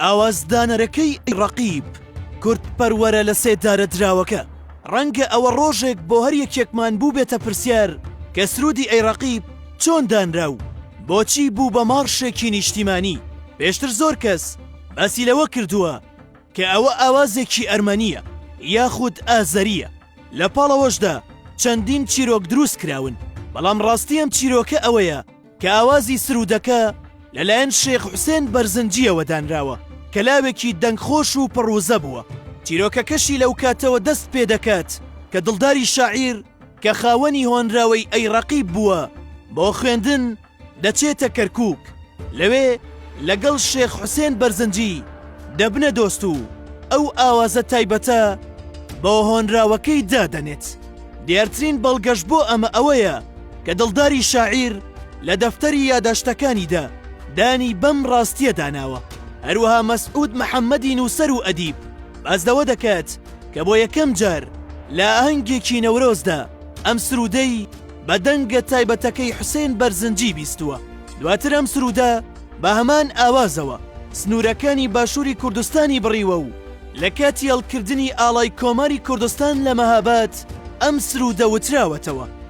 ئاوازدانەرەکەی ڕەقیب کوردپەروەرە لە سێدارەدراوەکە، ڕەنگە ئەوە ڕۆژێک بۆ هەر یەکێکمان بووبێتە پرسیار کە سروودی ئەی ڕەقیب چۆن دانرا و بۆچی بوو بە مارشێکی نیشتیمانی؟ پێشتر زۆر کەس باسی لەوە کردووە کە ئەوە ئاوازێکی ئەرمەنییە یاخود ئازەرییە، لە پاڵەوەشدا چەندین چیرۆک درووستکراون، بەڵام ڕاستی ئەم چیرۆکە ئەوەیە، کە ئاوازی سروودەکە لەلایەن شێخ حوسێن بەرزنجییەوە دانراوە کە لاوێکی دەنگخۆش و پڕ وزە بووە، چیرۆکەکەشی لەو کاتەوە دەست پێ دەکات کە دڵداری شاعیر کە خاوەنی هۆنراوەی ئەی ڕەقیب بووە بۆ خوێندن دەچێتە کەرکووک، لەوێ لەگەڵ شێخ حوسێن بەرزنجی دەبنە دۆست و ئەو ئاوازە تایبەتە بۆ هۆنراوەکەی دادەنێت، دیارترین بەڵگەش بۆ ئەمە ئەوەیە، کە دڵداری شاعیر لە دەفتەری یاداشتەکانیدا دانی بەم ڕاستییەدا ناوە. هەروەها مەسعود محەممەدی نووسەر و ئەدیب باس لەوە دەکات کە بۆ یەکەم جار لە ئاهەنگێکی نەورۆزدا ئەم سروودەی بە دەنگە تایبەتەکەی حوسێن بەرزنجی بیستووە. دواتر ئەم سروودە بە هەمان ئاوازەوە سنوورەکانی باشووری کوردستانی بڕیوە و لە کاتی هەڵکردنی ئاڵای کۆماری کوردستان لە مەهاباد ئەم سروودە وتراوەتەوە.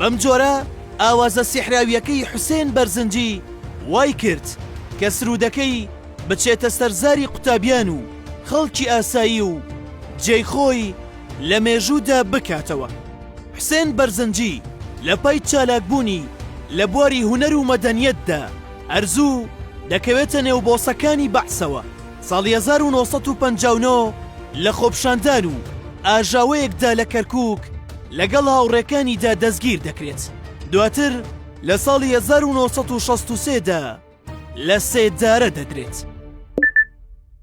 بەم جۆرە ئاوازە سیحراویەکەی حوسێن بەرزنجی وای کرد کە سروودەکەی بچێتە سەر زاری قوتابیان و خەڵکی ئاسایی و جێی خۆی لە مێژوودا بکاتەوە. حوسێن بەرزنجی لە پای چالاکبوونی لە بواری هونەر و مەدەنیەتدا، ئەرزوو، دەکەوێتە نێو بۆسەکانی بەعسەوە، ساڵی هەزار و نۆ سەد و پەنجا و نۆ لە خۆپشاندان و ئاژاوەیەکدا لە کەرکووک لەگەڵ هاوڕێکانیدا دەستگیر دەکرێت، دواتر لە ساڵی هەزار و نۆ سەد و شەست و سێ دا لە سێدارە دەدرێت.